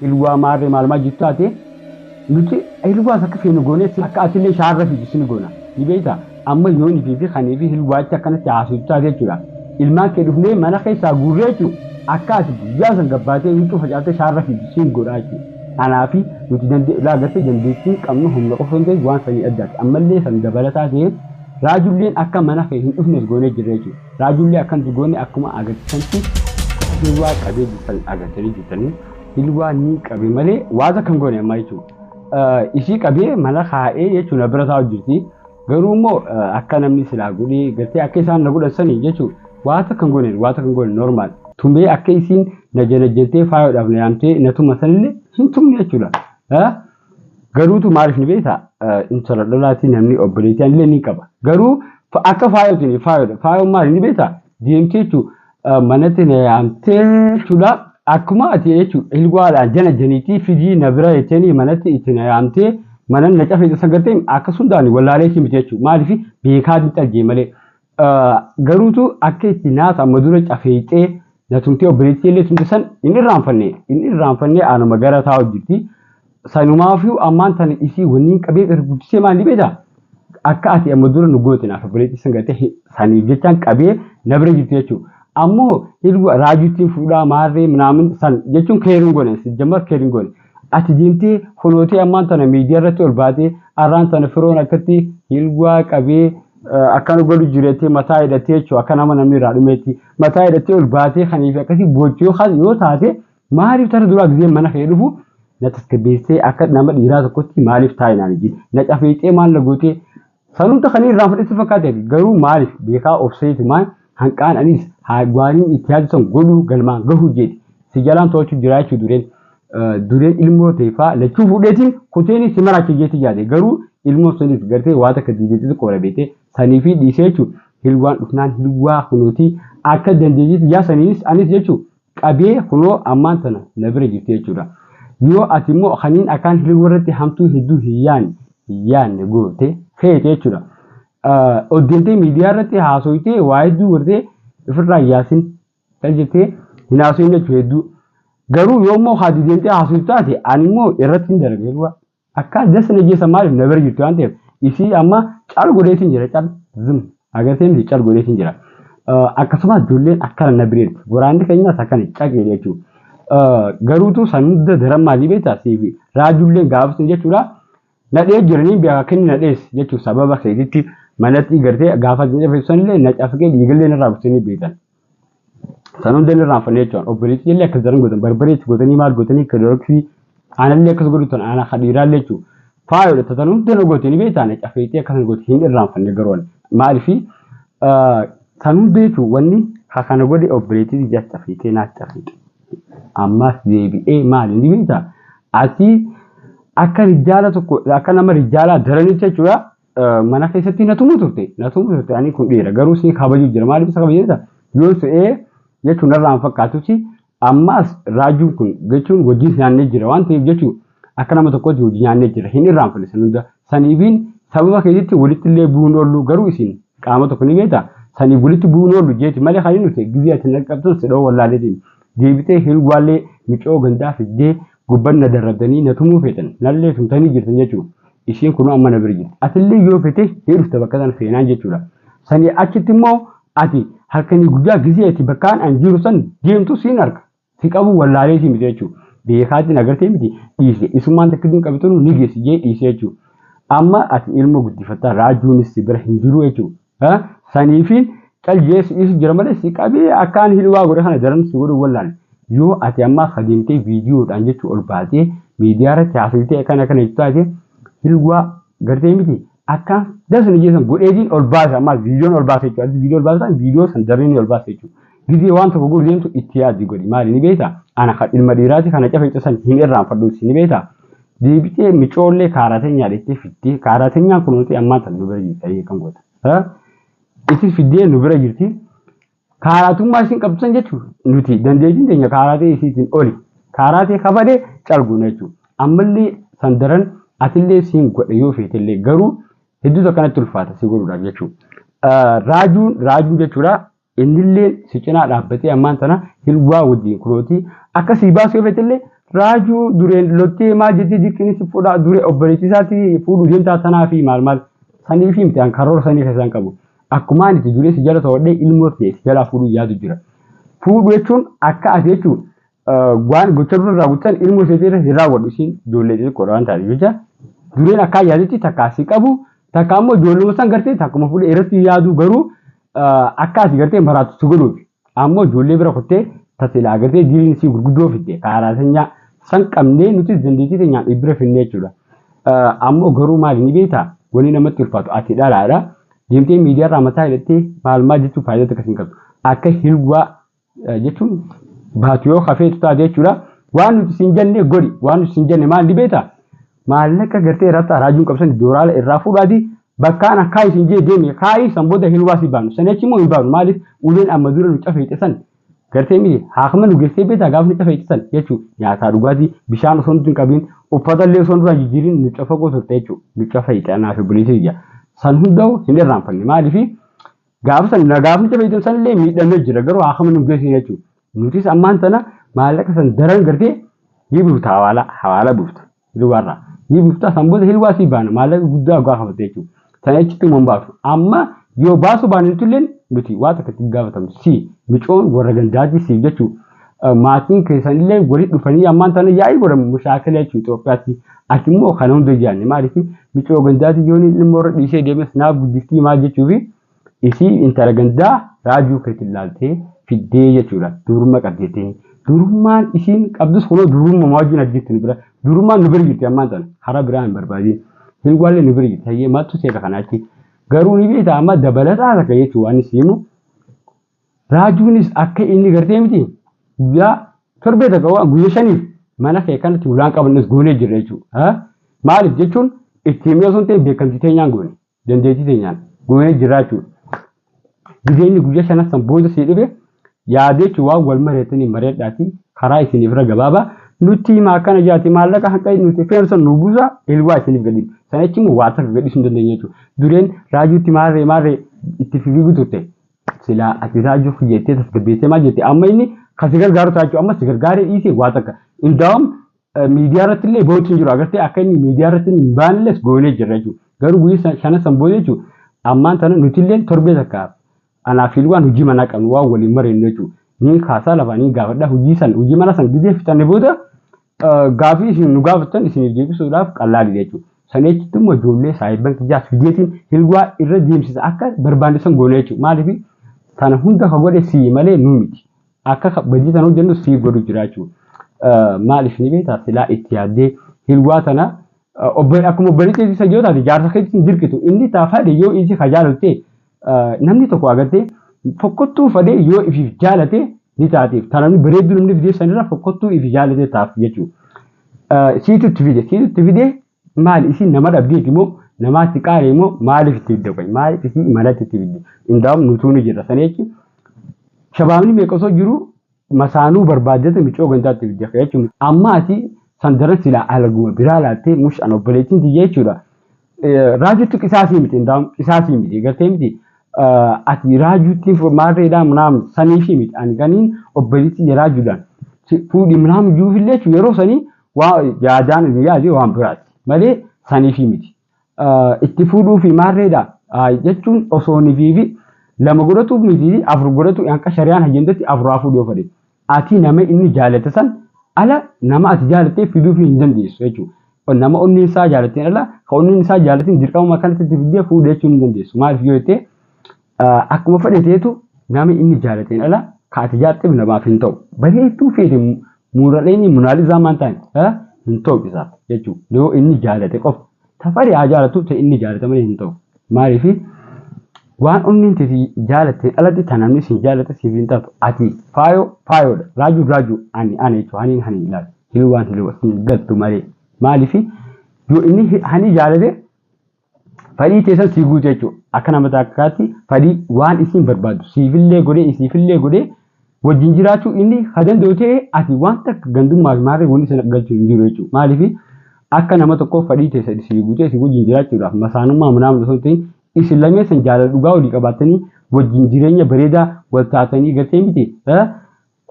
Ilwaa maarree maalumaa jittu ati nuti ilwaas akka feenu goonee si akka atillee shaarra fiitu sini goona ni beekta amma yooni fi fi kanii fi ilwaachi akkanatti haasoftu taate jechuudha ilmaan kee dhufnee mana keessaa guurree jechuun akka ati guyyaa san gabbaatee huccuu facaaftee shaarra fiitu siin godhaa jechuudha anaa fi nuti dandee laa gartee dandeettii qabnu humna qofa hin ta'in waan sanii addaati ammallee san dabalataa ta'ee raajulleen akka mana kee hin dhufnes goonee jirra jechuudha. Raajullee akkan itti goone akkuma agarsiisanti akka bilwaa qabee jirtan agartanii jirtanii bilwaa nii qabe malee waata kan goone ammaa jechuu isii qabee mana kaa'ee jechuu na bira taa'u jirti garuu immoo akka namni silaa godhee gartee akka isaan na godhan sanii jechuu waata kan goone waata kan goone normaal tumee akka isiin na janajjantee faayoodhaaf na yaamtee na tuma sanillee hin tumne jechuudha. Garuutu maaliif ni beektaa? Intala dhalaatii namni obboleettii illee ni qaba. Garuu akka faayootiin hin faayodha. Faayoon maali ni beektaa? Deemtee jechuun manatti na yaamtee jechuudha. Akkuma ati jechuun ilgwaadhaan jana janiitii fidii na bira jettanii manatti itti na yaamtee mana na cafee isa gartee akkasumdaan wallaalee si miti jechuudha. Maaliif beekaa hin xalgee malee. Garuutu akka itti naasa amma dura cafeexee na tumtee obboleettii illee tumte san hin irraanfanne hin irraanfanne anuma gara taa hojjirti. Sanumaafuu ammaan tana isii wanniin qabeef irra guddisee maal beektaa? Akka ati amma dura nu goote naaf obboleettii san gartee saniif jechaan qabee na bira jirti jechuudha. Ammoo ilma raajuttiin fuudhaa maarree minaamin san jechuun keeriin goone sijjammar keeriin goone. Ati deemtee fulootee ammaan tana miidiyaa irratti ol baatee arraan tana firoon akkatti hilgwaa qabee eh, akkana godhu jireettee mataa hidhattee jechuudha akka nama namni irraa dhumeetti mataa hidhattee ol baatee kanii fi akkasii gochuu kan yoo taate maaliif tara duraa gisee mana kee dhufu na tasgabbeessee akka nama dhiiraa tokkotti maaliif taa'inaan ijji na cafeexee maal na gootee Sanumta kanii irraan fudhatti fakkaate ati garuu maalif beekaa obsee tumaan hanqaan anis haa gwaaniin itti yaadu san godhuu galmaan gahuu jeeti si jalaan toochu jiraa jechuu dureen dureen ilmoo teefaa lachuu fuudheetiin kuteeni si maraachu jeeti yaade garuu ilmoo saniif gartee waa takka diideetti tokko wara beete sanii fi dhiisee jechuu hilwaan dhufnaan hilwaa kunootii akka dandeetiitti yaa saniinis anis jechuu qabee kunoo ammaan tana na bira jirti jechuudha. Yoo ati immoo kaniin akkaan hirriba irratti hamtuu hedduu hin yaanne hin yaanne goote feete jechuudha. Ol deemtee miidiyaa irratti haasoytee waa hedduu gortee ofirraa hin yaasin kan jettee hin haasoyin jechuudha hedduu. Garuu yoo immoo haati deemtee haasoytu taate ani immoo irratti hin dalaga hedduu. Akkaa just na jeesa maaliif na bira jirti waan ta'eef isii amma cal godheetiin jira cal zim agartee miti cal godheetiin jira. Akkasumas ijoolleen akkana na bira jirti waraanni keenyas akkana caqee jechuudha. Garuutu san hunda daran maalii beektaa siifi raajulleen gaafasni jechuudha. Nadhee jiranii beekaa kenni nadhees jechuun sababa keetitti manatti gartee gaafa jedhee ibsanillee na cafqee dhiigallee narraa buusanii beekan. Kan hunda inni irraanfannee jechuudha. Obboleessi illee akkas daran godhan barbaree itti godhanii maal godhanii kilooraksii aanallee akkas godhu tan aanaa kadhiiraallee jechuudha. Faayodha tatan hunda nu gootee ni beektaane cafeexee akkas nu goote hin irraanfanne garuu ani. Maalifi tan hunda jechuun wanni ha kana godhe obboleettii ija cafeexee naa cafeexee. Ammaas deebi'ee maali ni beektaa? Asii akka rijaala tokko akka nama rijaalaa daranitti jechuudha. mana keessatti na tumu turte na tumu turte ani kun dhiira garuu si kabaju jira maaliif isa kabaju jira yoo se'ee jechuun narraa hin fakkaatutti ammaas raajuun kun jechuun wajjin nyaannee jira waan ta'eef jechuun akka nama tokkotti wajjin nyaannee jira hin irraanfanne san hunda saniifiin sababa keessatti walitti illee bu'uun oollu garuu isin qaama tokko ni beekta saniif walitti bu'uun oollu jeeti malee kan inni nuti gizee ati naqabtuun si dhoo wallaalee deebitee hirwaallee micoo gandaa fiddee Gubban na darabdanii na tumuu feetan, nallee tumtanii jirtan jechuun ishiin kunoo amma na bira jirti. Atillee yoo fete ni dhufta bakka sana seenaan jechuudha. Sanii achitti immoo ati halkanii guyyaa gizee ati bakkaan an jiru san deemtu siin arga. Si qabuu wallaalee si miti jechuudha. Biyya kaatti na gartee miti dhiise. Isummaan takkittiin qabitanu ni geessi jee dhiise jechuudha. Amma ati ilmoo guddifatta raajuunis si bira hin jiru jechuudha. Ha sanii fi cal jees is jira malee si qabee akkaan hilwaa godhe kana daran si godhu wallaan yoo ati ammaa kadeemtee viidiyoodhaan jechuu ol baatee miidiyaa irratti haasofitee akkana kana jechuu taate hilwaa gartee miti akkaan dasni jeesan godheetiin ol baasa ammaa viidiyoon ol baasa jechuu ati viidiyoo ol baasa viidiyoo san daranii ol baasa jechuu Gizee waan tokko godhu deemtu itti yaadi godhi maali ni beekta ana kan ilma dhiiraati kana cafe cusan hin irraanfadhuuti ni beekta deebitee micoollee kaaraateenyaa dheettee fiddee kaaraateenyaan kunuuti ammaa tan nu bira jirti ayyee kan goota. Itti fiddee nu bira jirti kaaraatummaa isin qabdu san jechuun nuti dandeettiin teenya kaaraatee isiitiin oli kaaraatee kabadee calguuna jechuudha. Ammallee san daran atillee siin godhe yoo feetellee garuu hedduu takkanatti ulfaata si godhuudhaaf jechuudha. Raajuun raajuu jechuudha. Innilleen si cinaa dhaabbatee ammaan tana Hilwaa wajjiin kunooti akka sii baasuu irrattillee Raajuu Dureen lottee maal jettee dirqiin si fuudhaa Dure obboleettii isaatti fuudhuu deemtaa tanaafi maal maal saniifi miti an karoora sanii keessaa hin qabu akkumaa ani itti Duree si jala to'adhee ilmoo tiyya si jalaa fuudhuu yaadu jira fuudhu jechuun akka ati jechuu waan gocha dura raawwatan ilmoo isheetiirra hin raawwadhu isiin ijoollee xixiqqoodha waan taate jecha dureen akkaa yaadetti takka asii qabu takka ammoo ijoolluma san gartee takkuma fuudhee irratti yaaduu garuu akka asii gartee maraatu si godhuuf ammoo ijoollee bira kuttee tasilaa gartee diriin isii gurguddoo fidde kaaraa sanyaa san qabnee nuti dandeettii teenyaan dhibbira finnee jechuudha. Ammoo garuu maali ni beektaa wanni namatti ulfaatu ati dhalaadha deemtee miidiyaarraa mataa hidhattee maal maal jechuun faayidaa takka siin qabdu akka hilwaa jechuun baatu yoo hafeetu taate jechuudha. Waan nuti siin jenne godhi. Waan nuti siin jenne maal ni beektaa? Maallaqa gartee irratti araajuun qabsan dooraala irraa fuudhaati bakka ana kaa'i siin jee deemi kaa'i san booda hin hubaasii baanu. San achi immoo hin baanu maaliif uleen amma dura nu cafeexe san gartee miti haakama nu geessee beektaa gaafa nu cafeexe san jechuu nyaataa dhugaatii bishaan osoo nuti hin qabiin uffata illee osoo nurraa jijjiirin nu cafaqoo turte jechuu nu cafeexe anaa fi buleetii ija. San hunda'u hin irraanfanne maaliif Gaafa san nagaafnicha fayyadamu sanillee miidhamee jira garuu haakama nu geessee jechuudha. Nutis ammaan tana maallaqa san daran gartee ni buufta hawaala hawaala buufta hilwaarraa ni buufta san booda hilwaa sii baana maallaqa guddaa ogaa kafatte jechuudha. Sana jechutti immoo hin baatu. Amma yoo baasuu baanne nutulleen nuti waa takka itti gaafatamnu si micoon warra gandaatii siif jechuudha. maatiin keessanillee walitti dhufanii ammaan tana yaa'ii godhan mushaakila jechuun Itoophiyaatti ati immoo kana hunda jaanne maaliif micoo gandaati yoon ilmoo irra dhiisee deemes naaf guddiftii maal jechuufi isii intala gandaa raajuu keetti ilaaltee fiddee jechuudha duurummaa qabdeettee duurummaan isiin qabdus kunoo duurummaa wajjin argittu nu bira duurummaan nu bira jirti ammaan tana karaa biraa hin barbaadiin hin waallee nu bira jirti hayyee maaltu seeta kanaatti garuu ni beekta amma dabalataa takka jechuun waan isiimu Raajuunis akka inni gartee miti guyyaa torbee takka waan guyyaa shaniif mana kee kanatti ulaan qabannees goonee jirra jechuudha. Maaliif jechuun itti himee osoo hin ta'in beekamtii teenyaan goone dandeettii teenyaan goonee jirra jechuudha. Gizee inni guyyaa shanan san booda sii dhufe yaadee jechuun waan wal mareettanii mareedhaati karaa isiniif irra gabaabaa nutti himaa akkana jaati maallaqa hanga nuti feenu san nu buusa ilwaa isiniif gadi sana jechuun waa takka gadhiisuu hin dandeenye jechuudha. Dureen raajuutti maarree maarree itti fiiguu turte. Silaa ati raajuuf jettee tasgabbeessee maal jette amma inni kan si gargaaru ta'a jechuudha amma si gargaaree dhiisee waa takka indaawam miidiyaa irratti illee ba'uutti hin jiru agartee akka inni miidiyaa irratti hin baanilles goonee jirra jechuudha garuu guyyaa shanan san booda jechuudha ammaan tana nuti illee torbee takka anaa fi waan hojii manaa qabnu waan waliin mareennu jechuudha ni kaasaa lafaa ni gaafadha hojii san hojii manaa san gizee fixanne booda Gaafii isin nu gaafattan isiniif deebisuudhaaf qallaali jechuudha. Sana jechutti immoo ijoollee saayibban kiyyaa fideetiin hilwaa irra deemsisa akka barbaandisan goona jechuudha. Maaliif sana hunda ka godhe sii malee nuu miti. Akka badii sana hojjennu sii godhu jira jechuudha. Maaliif ni beektaa silaa itti yaaddee hilwaa tana Obbo- akkuma obboleettii isa yoo taate jaarsa keetti hin dirqitu inni taa fade yoo isi ka jaalatte eh, namni tokko agatte fokkottuu fade yoo ifiif jaalate ni taateef ta namni bareedduu namni fideef sanirra fokkottuu ifi jaalate taaf jechuu Eh, siitu itti fide siitu itti fide maali isin nama dhabdeeti moo namaatti qaale moo maaliif itti fidde qoy maaliif isin imalatti itti fidde indaa'um nutuu ni jedha sana jechuun shabaabni meeqa osoo jiru Masaanuu barbaaddata micoo gandaatti ibidda kee jechuun amma ati san daran silaa alaguma biraa laattee mush an obboleettiin tiyya jechuudha. Raajuutti qisaasii miti indaam qisaasii miti gartee miti ati raajuutti maarreedhaa munaam saniifii miti ani kaniin obboleettii tiyya raajuudhaan fuudhi munaam iyyuufillee jechuudha yeroo sanii waa yaadaan yaadee waan biraati malee saniifii miti. itti fuudhuu fi maarreedha jechuun osoo nifii fi lama godhatu miti afur godhatu hanqa shari'aan hajjendatti afur haa fuudhuu fedhe ati nama inni jaalate san ala nama ati jaalattee fiduu fi hin dandeessu jechuudha. Nama onneen isaa jaalatteen ala ka onneen isaa jaalatin dirqamuma kanatti itti fiddee fuudhee jechuun hin dandeessu. Maaliif yoo jettee Akkuma fedhe teetu nama inni jaalateen ala ka ati jaatteef namaaf hin ta'u. Bareedduu feete muuraleeni munaalizaa maan ta'an ala hin ta'u isaaf jechuu yoo inni jaalate qofa. Tafari haa jaalatu ta inni jaalate malee hin ta'u. Maaliif waan onneen teti jaalatteen alatti ta namni siin jaalate siif hin taatu. Ati faayoo faayoodha. Raajuun raajuu ani ana jechuu haniin haniin ilaala. Hilwaan hilwa siin galtu malee. Maaliif yoo inni hani jaalate Fadhii teessan sii guutu jechuudha. Akka nama takkaatti fadhii waan isiin barbaaddu siifillee godhee isiifillee godhee wajjin jiraachuu inni ha danda'u ta'e ati waan takka gandummaa fi maarree wanti sana galchuu hin jiru jechuudha. Maaliif akka nama tokkoof fadhii teessan isii guutee isii wajjin jiraachuudhaaf masaanummaa manaamna osoo hin ta'in isin lameessan jaalala dhugaa walii qabaattanii wajjin jireenya bareedaa wal taatanii galtee miti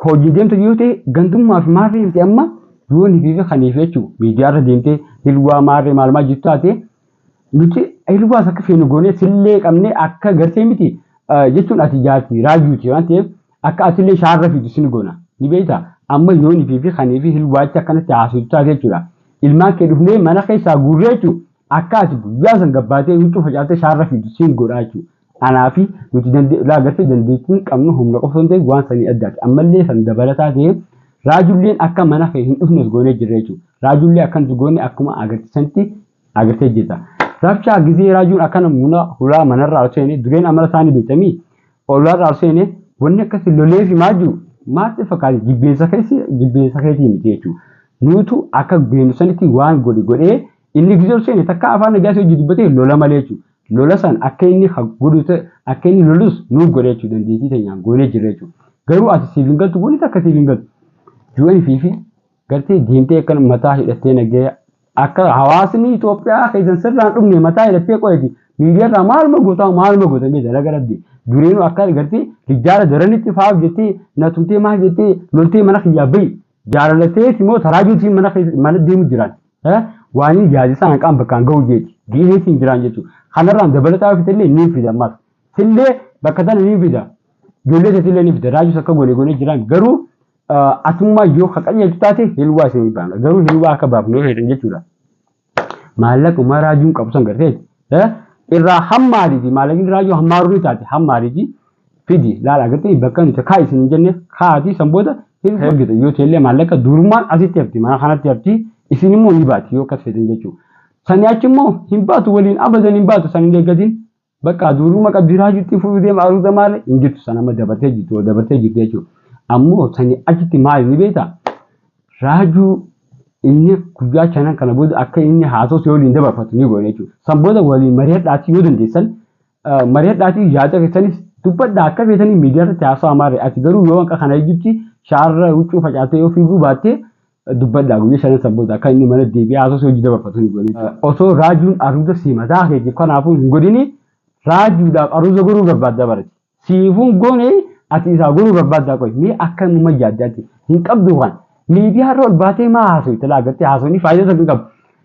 Hojii deemtu yoo ta'e gandummaa fi maarree miti amma yoo ni fi kaniif jechuu miidiyaarra deemtee hilwaa maarree maalumaa jiru taate nuti hilwaas akka feenu goonee sillee qabnee akka gartee miti jechuun ati jaarti raajuuti waan ta'eef akka atillee shaarra fiitu sin goona ni beekta amma yoo ni fi kaniif hilwaacha akkanatti haasoftu taate jechuudha ilmaan kee dhufnee mana keessaa guurree jechuudha akka ati guyyaa san gabbaatee huccuu facaaftee shaarra fiitu sin godhaa jechuudha Anaa fi nuti dandee ilaa agartee dandeettiin qabnu humna qofa osoo hin ta'in waan sanii addaati. Ammallee san dabalataa ta'ee raajulleen akka mana kee hin dhufnes goonee jirra jechuudha. Raajullee akka nuti goone akkuma agarte sanitti agartee jirta. Rabshaa gizee raajuun akkana muna hulaa manarraa osoo seene dureen amala saanii beektamii ollaarraa osoo seene wanni akkasi lolee fi maa jiru maatti fakkaate jibbeensa keessi jibbeensa keetii miti jechuudha. Nuutu akka beenu sanitti waan godhe godhee inni gizee osoo seene takka afaan nagaa si hojii dubbatee lola malee jechuudha. Lola san akka inni ka godhu ta'e, akka inni lolus nu godha jechuudha. Dandeettii teenyaan goonee jirra jechuudha. Garuu ati siif hin galtu wanni takka siif hin galtu. UN fi fi gartee deemtee akkana mataa hidhattee nagaya akka hawaasni Itoophiyaa keessan sirraan dhumne mataa hidhattee qoyati miidiyaarraa maaluma gootaa maaluma gootan mee dalaga rabbi dureenuu akka gartee rijjaara daranitti faaf jettee na tumtee maal jettee loltee mana kiyyaa bahi Jaalala teeti moo taraa juutiin mana keessa mana deemu jiraan. Eh? Waanii yaadisaa hanqaan bakkaan ga'u jeeti. Ga'ee siin jiraan jechuudha. Kanarraan dabalataa yoo fitellee niin fida ammaas. Sillee bakka tana niin fida. Ijoollee teetillee niin fida. Raajuus akka goone goone jiraan garuu ah, atummaa yoo haqanyeetu taate hilwaa isin hin baafna. Garuu hilwaa akka baafnu yoo feetan jechuudha. Maallaquma raajuun qabu san gartee eh, irraa hammaariti maallaqni raajuu hammaaru ni taate hammaariti fidi laala gartee bakka nuti kaa isin hin jenne kaati san booda hin ergita yoo teellee maallaqa durumaan asitti hafti mana kanatti hafti isin immoo ni baati yoo akkas fedhan jechuudha. Sani achi immoo hin baatu waliin abadan hin baatu san hin eeggatin Bakka duuruma qabdi raajutti fudhu deema aruuza maale hin jirtu sana amma dabartee jirtu yoo dabartee jirtu jechuudha. Ammoo sani achitti maali ni beekta raajuu inni guyyaa shanan kana booda akka inni haasawsi waliin dabarfatu ni goone jechuudha. San booda waliin mari'adhaatii yoo dandeessan mari'adhaatii yaada keessanis dubbadhaa akka feetanii miidiyaa irratti haasawaa maarre ati garuu yoo hanqa kana ejjutti shaarra huccuu facaatee yoo fiiguu baattee dubbadhaa guyya shanan san booda akka inni mana deebi'ee haasoo si hojii dabarfatu ni godhi. Osoo raajuun aruuza si mataa keetiif kanaafuu hin godhini raajuudhaaf aruuza godhuu barbaaddaa barati. Siifuun goone ati isaa godhuu barbaaddaa qoy mee akka muma yaadde ati hin qabdu kan miidiyaa irra ol baatee maa haasoo itti laagartee haasoo ni faayidaa tokko hin qabu.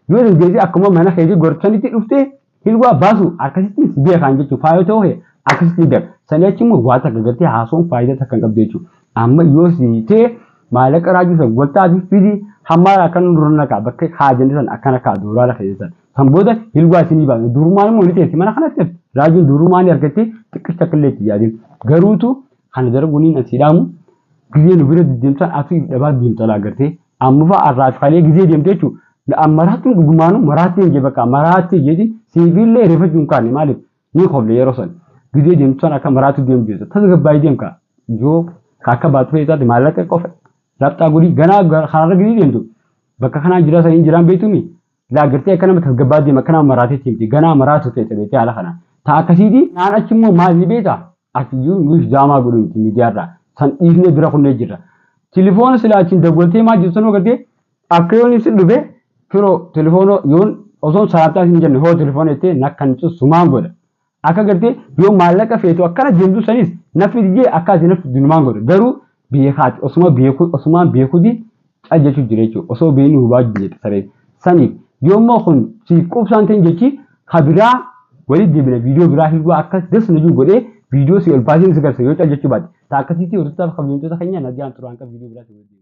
Yoo dandeessee akkuma mana keetii gorchanitti dhuftee Ilwaa baasu akkasitti si beekaan jechuun faayoo ta'uu kee akkasitti gar sanii achi immoo waa takka gartee haasawuun faayidaa takka hin qabdu jechuudha. Amma yoo si ta'e maallaqa raajuu san waltaa fi fidi hammaara akkan dura naqaa bakka haajanni san akkana kaa doolaara keessan. San booda ilwaa isinii baasa. Durumaan immoo ni teessi mana kanatti raajuun durumaan ni argattee xiqqis takka illee itti yaadin. Garuutu kana darbuun hin asiidhaamu. Gizee nu bira deddeemtaan atu if dhabaa deemtalaa gartee Amma fa'a arraas kalee gizee deemte jechuun an maraattuun dhugumaanuu maraattee hin jee bakka maraattee jeetiin siifiillee reefachuu hin kaane maaliif ni kofle yeroo san gizee deemtu san akka maraattuu deemtu jechuudha tasgabbaa'ii deem kaa yoo ka akka baatu fa'ii taate maallaqa qofa lapxaa godhii ganaa kanarra gizee deemtu bakka kanaan jiraa saniin jiraan beektuumi Laa gartee akka nama tasgabbaa deema akka nama maraateetti miti ganaa maraatu ta'e beektee haala kana. Taa akkasiiti naan achi immoo maal beeta ati iyyuu nuyi daamaa godhu miti miidiyaarraa san dhiifnee bira kunnee jirra. Tilifoona silaa achiin dawwaltee maa jirtu sanoo gartee akka yoon ibsi dhufe firoo tilifoona yoon osoo salaattaa hin jenne hoo tilifoona jettee nakkan cussumaan godha. Akka gartee yoo maallaqa feetu akkana deemtu sanis naffi didee akka ati naffi dunumaan godhe garuu beekaati osuma beeku osumaan beekuti cal jechuu jira jechuudha osoo beekni hubaa jette sareen saniif yoo immoo kun siif qubsaan ta'in jechi ka biraa walii deebina viidiyoo biraa hirwaa akka das na jiru godhee viidiyoo si ol baasee si garsa yoo cal jechuu baate ta akkasitti hordoftaaf kabajamtoota keenya nagaan turaan qab viidiyoo biraa si waliin